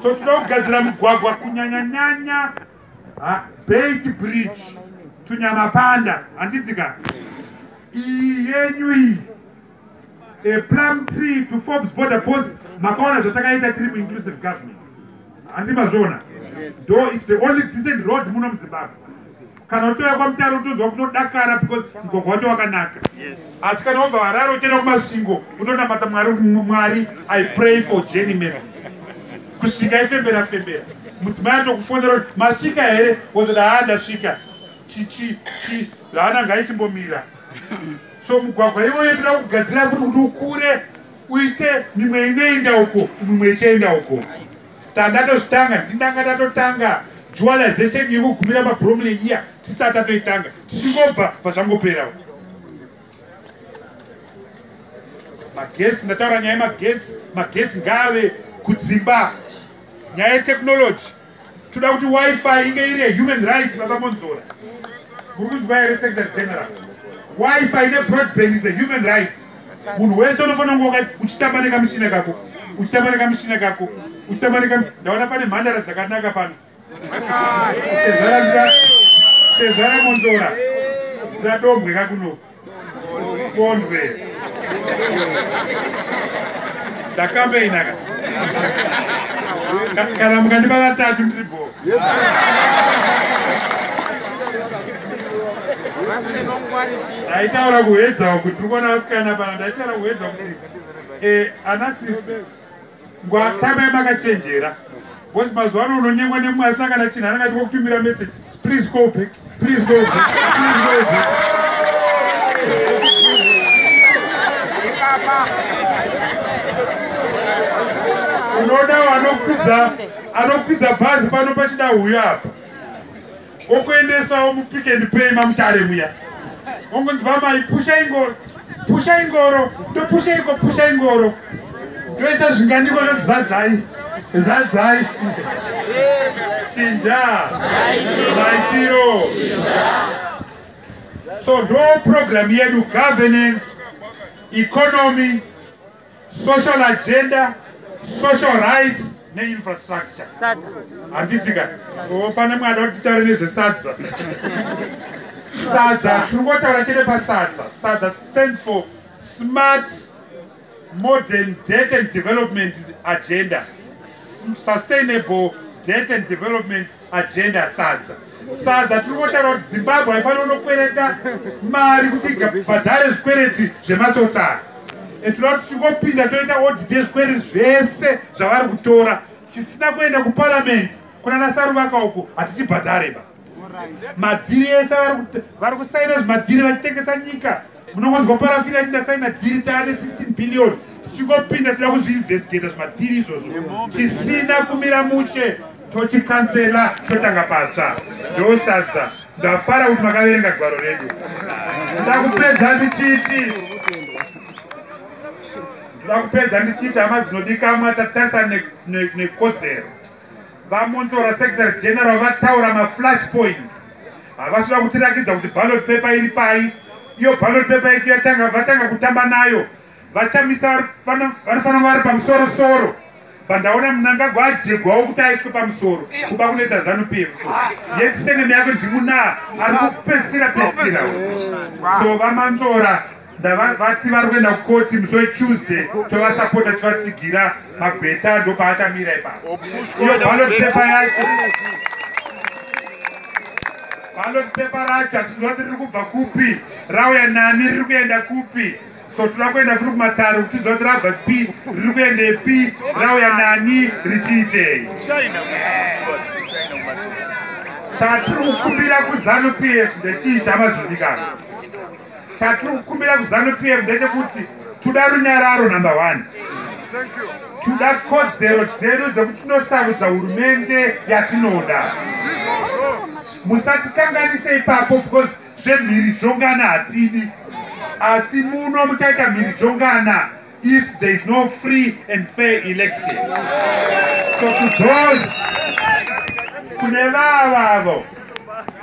so tinoda kugadzira migwagwa kunyanya nyanya bait bridge tunyamapanda handidzika iyi yenyu iyi a plum tree to forbes border bos makaona zvatakaita tiri muinclusive government handi mazviona do is the only decent road muno muzimbabwe kana uchiuya kwamutare utonzwa kutodakara because mugwagwa wacho wakanaka asi kana wabva harare uchienda kumasvingo utonamata mwari mwari i pray for jenny messes kusvika ifembera fembera mudzimai atokufonera kuti masvika here wozoda haa ndasvika chichi chi haana ngaichimbomira so mugwagwa iwoyo toda kugadzira futi kuti ukure uite mimwe inoenda uko mimwe ichienda uko Tanga tozvitanga tindanga tatotanga dualization yekugumira mabromley iya tisati tatoitanga tichingobva vazvangoperawo magetsi ndataura nyaya yemagetsi magetsi ngaave kudzimba nyaya yetechnology toda kuti wifi inge iri yehuman right baba monzora muri kunzwa here secretary general wifi ine broadband is a human rights munhu wese unofanira kunge uchitamba nekamushina kako uchitamba nekamushina kako uchitamba neka ndaona pane mhandara dzakanaka pano tezvara monzora zvadombwe kakuno kondwe ndakambeina ka kana mukandipa vatatu ndiri bhoo ndaitaura kuhedzawo kuti ukuona vasikana pana ndaitaura kuhedza kuti eh, ana sisi ngwatamai makachenjera bcause mazuva ano unonyengwa nemumwe asina kana chinhu anangati wokutumira message please call back Please go zip. Please go zip. unoda anokwidza anokwidza bhazi pano pachida huyo apa okuendesawo mupik and pay mamutare muya ongonzi vamai pusha ingori Pusha ingoro, ndopusha iko, pusha ingoro. Ndoisa zvingandiko zvoti zadzai, zadzai. Chinja, maitiro. So ndo program yedu governance, economy, social agenda social rights neinfrastructure handitika oh, pane mwada kuti titaure nezvesadza sadza tiri kungotaura chete pasadza sadza stand for smart modern debt and development agenda sustainable debt and development agenda sadza sadza tiri kutaura kuti zimbabwe haifanira kunokwereta mari kuti bhadhare zvikwereti zvematsotsara tinoda kuti tingopinda toita odit yezvikwereti zvese zvavari kutora tisina kuenda kuparliamendi kunana saruvaka uko hatichibhadhareba madhiri ese vari kusaina zvimadhiri vachitengesa nyika munongonzwa parafini ati ndasaina dhiri taane 16 billion tichingopinda toda kuzviinvestigata zvimadhiri izvozvo chisina kumira mushe tochikansela totanga patsva ndosadza ndafara kuti makaverenga gwaro redu ndakupedza ndichiti ndakupedza ndichiti hama dzinodikamwa tatarisana nekodzero ne, ne VaMonzora Secretary General vataura maflash points havasi kuda kutirakidza kuti ballot paper iri pai iyo ballot paper yacho yatanga vatanga kutamba nayo vachamisa vanofanira vari pamusoro soro pandaona munangagwa ajegwawo kuti aiswe pamusoro kuba kunoita zanu p f so yetiseneme yako ndimunaa ari kupesira pesira so vamanzora ndavati vari kuenda kukoti musi wetuesday tovasapota tivatsigira magweta ndopaachamira ipapo iyo ballot paper yacho ballot paper racho hatizviziva kuti riri kubva kupi rauya nani riri kuenda kupi so toda kuenda futi kumatare kuti tiziva kuti rabva pi riri kuendepi rauya nani richiitei chatiri kukumbira kuzanu pf ndechii chamazodikana Chatiri kukumbira kuZanu PF ndechekuti tuda runyararo number one. Tuda kodzero dzedu dzekuti tinosarudza hurumende yatinoda. Musatikanganise ipapo because zvemhirizhongana hatidi asi muno muchaita mhirizhongana. if there is no free and fair election so to those kune vavavo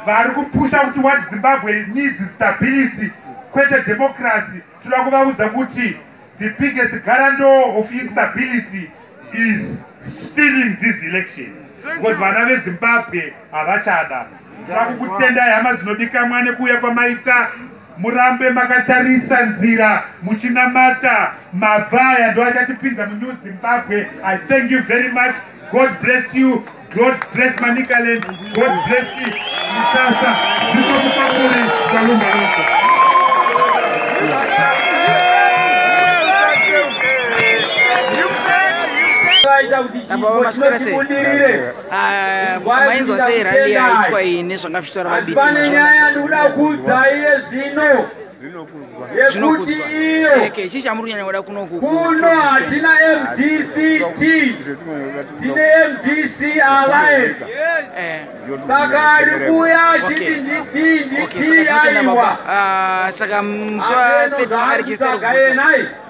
vari kupusha kuti what zimbabwe needs stability kwete democracy tinoda kuvaudza kuti the biggest guarantor of instability is stealing these elections because vana vezimbabwe havachada tinoda kukutendai hama dzinodikamwa nekuuya kwamaita Murambe makatarisa nzira muchinamata mabva aya ndo achatipinza munew zimbabwe i thank you very much god bless you god bless manicaland god bless you mutasa zvikomukakuri kalumba loko aita kuti chipo chinotibudirire Ah, mainzwa sei rally yaitwa iyi nezvanga zvichitaura vabiti zvinokudzwa eke chii chamuri kunyanya kuda kunoku kuno hatina mdct tine mdc alliance eh. saka ari kuya chiti nditi nditi yaiwa ah, saka mswa 30 ari chistari kuvuta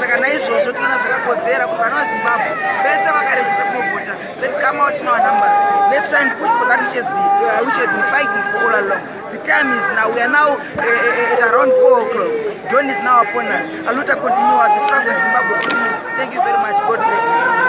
saka naizvozvo tinoona zvakakodzera kuti vana vazimbabwe vese vakarejisa kunovhota let's come out in our numbers let's try and push for that which has been, uh, which has been fighting for all along the time is now we are now uh, uh, at around 4 o'clock dawn is now upon us aluta continue the struggle in zimbabwe continues thank you very much god bless you